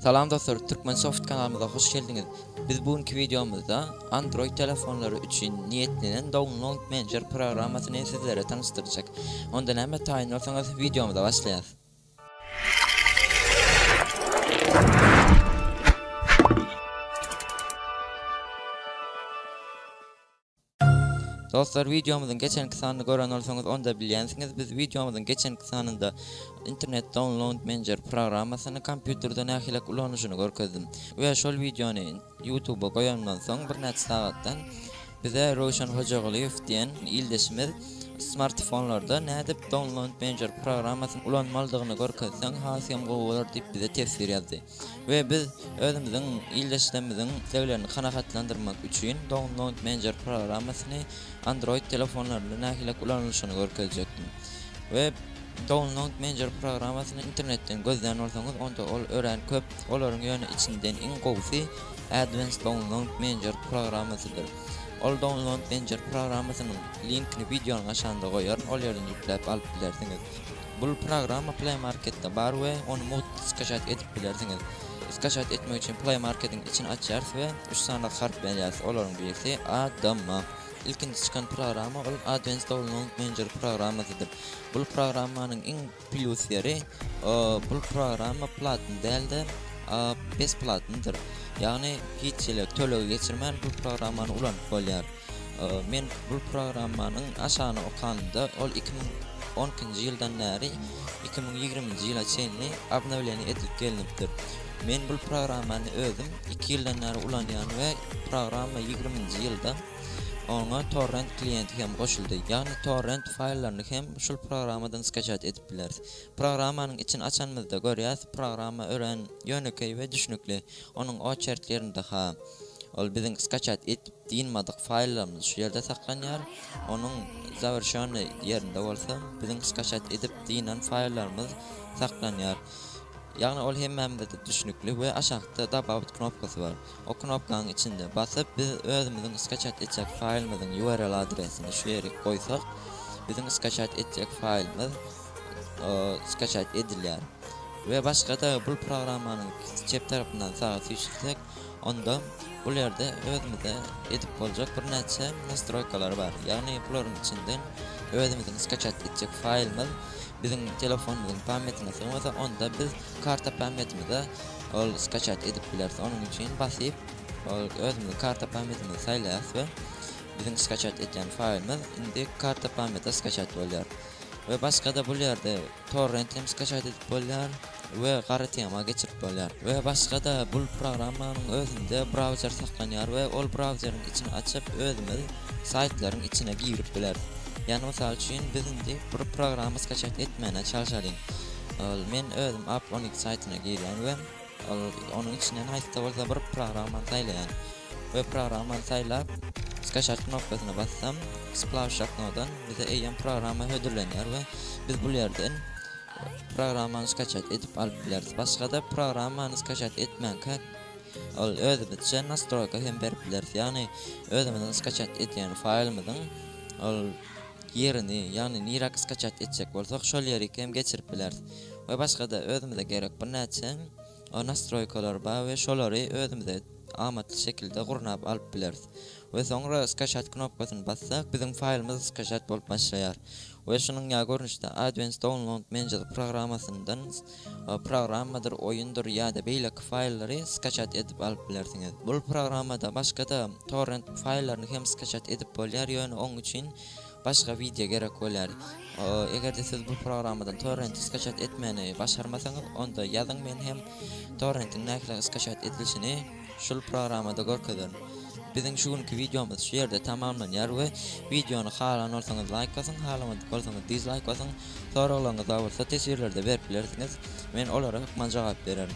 Salam dostlar Turkmensoft kanalymyza hoş geldiňiz. Biz bu günki wideomyzda Android telefonlary üçin niýetlenen Download Manager programmasyny sizlere tanyşdyrjak. Onda näme taýyn bolsaňyz wideomyza başlaýas. Dostlar wideomyzyň geçenki sanyny gören bolsaňyz onda bilýänsiňiz biz wideomyzyň geçenki sanynda internet download manager programmasyny kompýuterde nähilek ulanyşyny görkezdim we şol wideony youtube goýanymdan soň birnäçe sagatdan bize Röwşen Hojagulyýew diýen ildeşimiz smartfonlarda nädip download manager programmasyny ulanmalydygyny görkezseň has hem gowy bolar diýip bize teswir ýazdy. we biz özümiziň ildeşlerimiziň isleglerini kanagatlandyrmak üçin Download Manager programmasyny Android telefonlarynda nähililik ulanylyşyny görkezjekdim. We Download Manager programmasyny internetden gözlän bolsaňyz onda ol örän köp, olaryň ýöne içinden iň gowusy Advanced Download Manager programmasydyr. Ol Download Manager programmasynyň linkini wideonyň aşagynda goýaryn, ol ýerden ýükläp alyp bilersiňiz. Bul programma Play Marketde bar we ony mugt skaçat edip bilersiňiz. Skaçat etmek üçin Play Marketiň içini açýarys we üç sanaly harp berýäris, olaryň birisi ADM. Ilkinji çykan programma ol Advent stolunyň menjeri programmasydyr. Bul programmanyň iň plýus ýeri, bul programma platny däl-de, besplatnydyr. Ýagny hiç hili tölegi geçirmän bul programmany ulanyp bolýar. Men bul programmanyň aşagyny okanymda ol iki müň on ikinji ýyldan bäri iki müň ýigriminji ýyla çenli obnowleniýa edilip gelnipdir. Men bul programmany özüm iki ýyldan bäri ulanýan we programma ýigriminji ýylda oňa torrent kliýenti hem goşuldy. Ýagny torrent faýllaryny hem şul programmadan skaçat edip bileris. Programmanyň içini açanymyzda görýäs programma örän ýönekeý we düşnükli. Onuň oçertlerinde-ha ol biziň skaçat et. Dynmadyk faýllarymyz şu ýerde saklanýar. Onuň zawerşýonnyý ýerinde bolsa biziň skaçat edip dynan faýllarymyz saklanýar. Ýagny ol hemmämize-de düşnükli we aşakda Dobawit knopkasy bar. O knopkanyň içinde basyp biz özümiziň skaçat etjek faýlymyzyň url adresini şu ýerik goýsak biziň skaçat etjek faýlymyz skaçat edilýär. We başga-da bul programmanyň çep tarapyndan saga süýşürsek Onda bul ýerde özümize edip boljak birnäçe nastroýkalar bar. Ýagny bularyň içinden özümiziň skaçat etjek faýlymyz biziň telefonymyzyň pamýetine sygmasa, onda biz karta pamýetimize ol skaçat edip bileris. Onuň üçin basyp, ol özümiziň karta pamýetimizi saýlaýarys we biziň skaçat etýän faýlymyz indi karta pamýete skaçat bolýar. We başga-da bul ýerde Torrent hem skaçat edip bolýar we gara tema geçirip bolýar. We başga-da bul programmanyň özünde brauzer saklanýar we ol brauzeriň içini açyp özümiz saýtlaryň içine girip bileris. Ýani mysal üçin biz indi bir programma skaçat etmäne çalşalyň. Ol men özüm Up on it saýtyna girýän we. Ol onuň içinden haýsy-da bolsa bir programmany saýlaýan we programmany saýlap, Skaçart knopkasyna bassam, Splash şaknodan bize eýýäm programma hödürlenýär we biz bul ýerden programmany skaçat edip alyp bileris. Başga-da programmany skaçat etmänkä ol özümizçe nastroýka hem berip bileris, ýagny özümiziň skaçat edýän faýlymyzyň ol ýerini, ýagny niräk skaçat etjek bolsak şol ýerik hem geçirip bileris. we başga-da özümize gerek birnäçe nastroýkalar bar we şolary özümize amatly şekilde gurnap alyp bileris we soňra Skaşat knopkasyny bassak biziň faýlymyz skaşat bolup başlaýar we şunuň ýa görnüşde Advance Download Manager programmasyndan programmadyr oýundyr ýa-da beýleki faýllary skaşat edip alyp bilersiňiz. Bul programmada başga-da torrent faýllaryny hem skaşat edip bolýar ýöne oň üçin Başga wideo gerek bolýar. Egerde siz bu programmadan torrenti skaçat etmäni başarmasaňyz onda ýazyň men hem torrentiň nähili skaçat edilişini şul programmada görkezerin. Biziň şu günki wideomyz şu ýerde tamamlanýar we wideony halan bolsaňyz laýk basyň halamadyk bolsaňyz dizlaýk basyň soraglaryňyz bar bolsa teswirlerde berip bilersiňiz men olara hökman jogap bererin.